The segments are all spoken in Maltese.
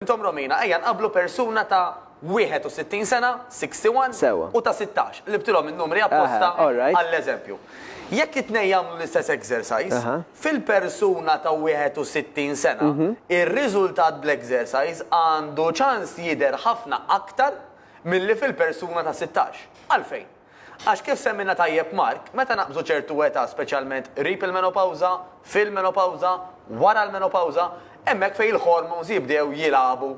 Intom Romina, ejja nqabblu persuna ta' 61 sena, 61, Sewwa. u ta' 16, qlibtilhom in-numri apposta Aha, all right. għall-eżempju. Jekk it-tnejn jagħmlu l-istess exercise, Aha. fil-persuna ta' 61 sena, ir-riżultat bl-exercise għandu ċans jidher ħafna aktar milli fil-persuna ta' 16. Għalfejn? Għax kif semmielna tajjeb Mark, meta naqbżu ċertu età speċjalment qrib il-menopawża, fil-menopawża, wara l-menopawża, hemmhekk fejn il-hormones jibdew jilagħbu.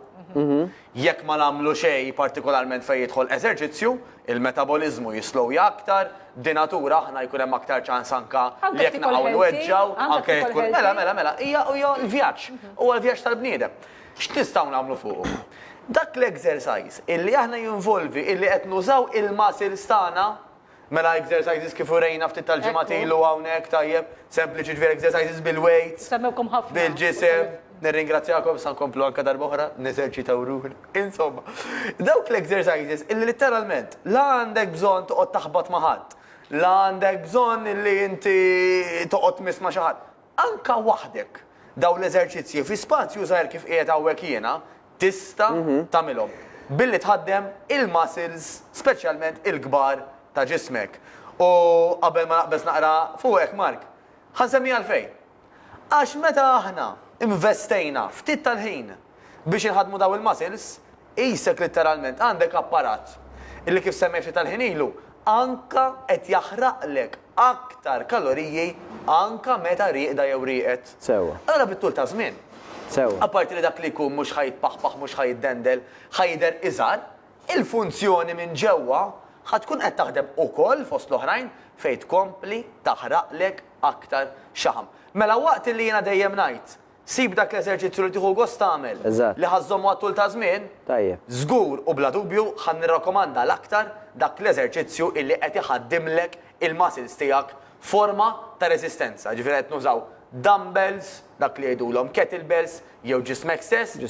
Jekk ma nagħmlu xejn partikolarment fejn jidħol eżerċizzju, il-metaboliżmu jislowja aktar, b'dinatura aħna jkun hemm aktar ċans anke li jekk naqgħu nweġġgħu, anke jekk tkun, mela, mela, mela, hija, hija l-vjaġġ, huwa l-vjaġġ tal-bniedem. X'nistgħu nagħmlu fuqu? Dak l-exercise illi aħna jinvolvi illi qed nużaw il-muscles tagħna, mela exercises kif urejna ftit tal-ġimgħat ilu hawnhekk, tajjeb, sempliċi, ġifieri exercises bil-weights, bil-ġisem, nirringrazzjakom issa nkomplu anke darba oħra neżerċitaw ruħna, insomma, dawk l-exercises illi litteralment la għandek bżonn toqgħod taħbat ma' ħadd, la għandek bżonn illi inti toqgħod tmiss ma' xi ħadd, Anke waħdek, dawn l-eżerċizzji fi spazju żgħir kif qiegħed hawnhekk jiena, tista' tagħmilhom billi tħaddem il-muscles speċjalment il-kbar ta' ġismek. U qabel ma naqbeż naqra fuqek, Mark, ħa nsemmi għalfejn. Għax meta aħna investejna ftit tal-ħin biex inħaddmu dawn il-muscles, Qisek litteralment għandek apparat li kif semmejt ftit tal-ħin ilu, anka qed jaħraqlek aktar kaloriji anka meta rieqda jew rieqed. Sewwa. Allura bit-tul taż-żmien. Sewwa. Apparti li dak li jkun mhux ħa jitpaħpaħ mhux ħa jiddendel, ħa jidher iżgħar, il-funzjoni minn ġewwa ħa tkun qed taħdem ukoll fost l-oħrajn fejn tkompli taħraqlek aktar xaħam. Mela waqt li jiena dejjem ngħid Sib dak l-eżerċizzju li tieħu gost tagħmel, li ħa żżommu għat-tul ta' żmien. Żgur u bla dubju ħa nirrakkomanda l-aktar dak l-eżerċizzju illi qed iħaddimlek il-muscles tiegħek f'forma ta' reżistenza, jiġifieri qed nużaw dumbbells, dak li jgħidulhom kettlebells jew ġismek stess,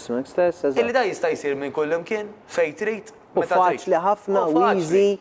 illi dan jista' jsir minn kullimkien, fejn trid, meta trid. U faċli ħafna u easy.